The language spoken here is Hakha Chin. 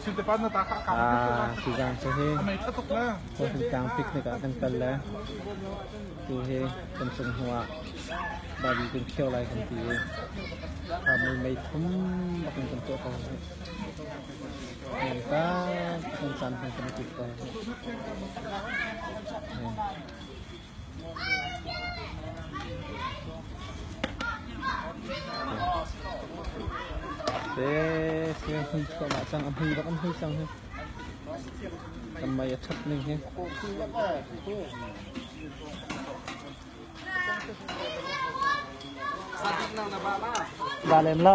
Sizang cu hi Hawhitlang picnic ah kan kal le tu hi kan cung hnu ah Babi kan khio lai kan ti i kha mui mei thum a kan kan tuah ko hi heng ta kan chan hang kan ti ko hi Se se hni chuahmah cang a hmui bak an hmui cang hi kan mei a ṭhat ning hi ba lem lo